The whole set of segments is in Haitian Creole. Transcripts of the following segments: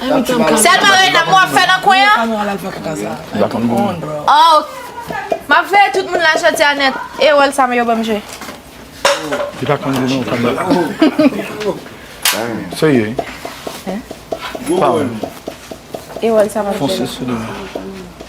Sèl bagay nan pou ap fè nan kwen an. Oh Map veye tout moun la jodi a nèt e wòl sa yo banm jwe. E wòl sa map jwe la.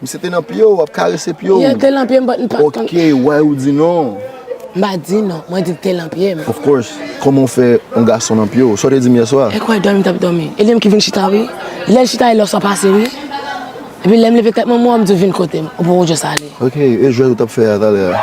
Misye te nan pye w, ap karese pye w. Yo te lan pye m but m pat konn. Ok, why ou di non? M pa di non, mwen di l te lan pye m. Of course, kòman w fè yon gason lan pye w? Sa w te di m yèswa? E kwè dòmi m tap dòmi. E li menm ki vin chita wi. Lè l chita e lè w sa pase wi. Epi lè m leve tèt mwen m wè w m di w vin kote m. Ou poko just ale. Ok, e jwèt ou tap fè a talè a?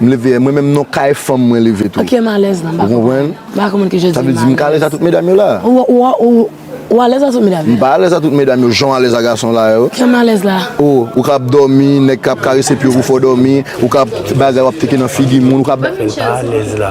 M leve, mwen menm non kay fanm mwen leve tou. Ok m alèz la m pa konprann. M pa konprann ki je di m alèz. Sa vle di m ka alèz a tout medam yo la. Ou alèz a tout medam yo la? M pa alèz a tout medam yo jan w alèz a gason la yo. Jan m alèz la? O, ou kab dòmi, nèg kab karese pye w pou fè w dòmi, ou kab bagay w ap teke nan figi moun, ou kab. Mwen pa alèz la.